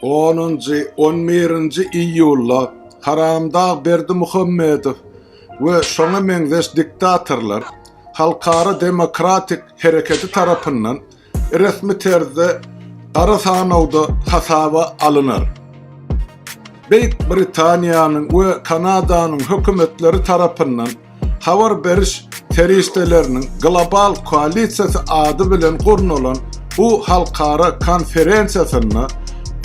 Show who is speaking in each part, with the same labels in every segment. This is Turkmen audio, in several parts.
Speaker 1: Onunjy, on birinji iýulda Haramdag Berdimuhamedow we şoňa meňzeş diktatorlar Halkara demokratik hereketi tarapyndan resmi terzde gara sanawda hasaba alynar. Beýik Britaniýanyň we Kanadanyň hökümetleri tarapyndan Habar beriş serişdeleriniň global koalisiýasy ady bilen gurnalan bu halkara konferensiýasynda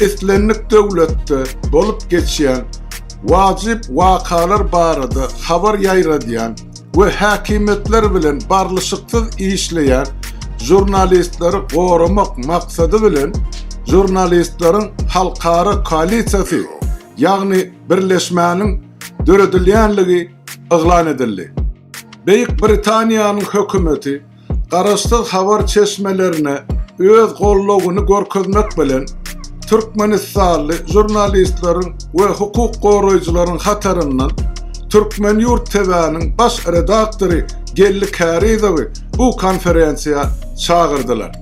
Speaker 1: islendik döwletde bolup geçýän wajyp wakalar barada habar ýaýradýan we häkimiýetler bilen barlyşyksyz işleýän žurnalistleri goramak maksady bilen žurnalistleriň halkara koalisiýasy, ýagny birleşmäniň döredilýänligi yglan edildi. Beýik Britaniýanyň hökümeti garaşsyz habar çeşmelerine öz goldawyny görkezmek bilen, türkmenistanly žurnalistleriň we hukuk goraýjylaryň hataryndan Türkmen Ýurt TV-niň baş redaktory Geldi Kärizowy bu konferensiýa çagyrdylar.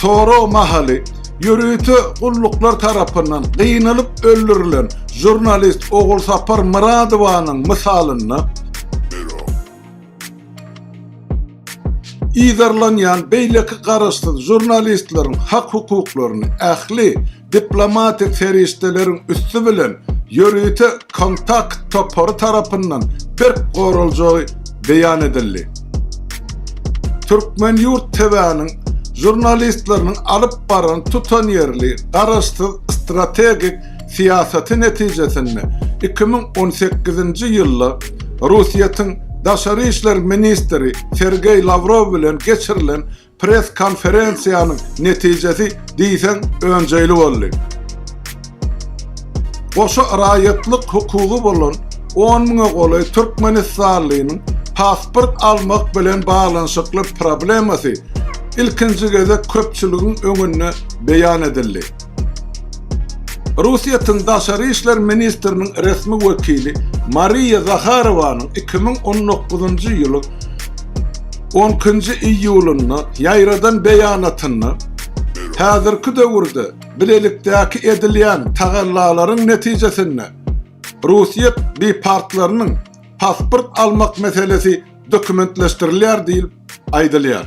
Speaker 1: Sorag mahaly ýörite gulluklar tarapyndan gynalyp öldürilen žurnalist Ogulsapar Myradowanyň mysalynda yzarlanýan beýleki garaşsyz žurnalistleriň hak-hukuklaryny ähli Diplomatik serişdeleriň üsti bilen ýörite kontakt topary tarapyndan berk goraljagy beýan edildi. Türkmen ýurt TW-niň žurnalistleriniň alyp baran tutanýerli, garaşsyz strategik syýasaty netijesinde iki müň on sekizinji ýylda Russiýetiň Daşary işler ministri Sergeý Lawrow bilen geçirilen Press-konferensiýanyň netijesi diýseň önjeýli boldy. Goşa raýatlyk hukugy bolan on müňe golaý türkmenistanlynyň pasport almak bilen baglanyşykly problemasy ilkinji gezek köpçüligiň öňünde beýan edildi. Russiýetiň daşary işler ministriniň resmi wekili Mariýa Zaharowanyň iki müň on dokuzynjy ýylyň on ikinji iýulynda ýaýradan beýanatynda häzirki döwürde bilelikdäki edilýän tagallalaryň netijesinde Russiýet bipartlarynyň pasport almak meselesi dokumentleşdirilýär diýlip aýdylýar.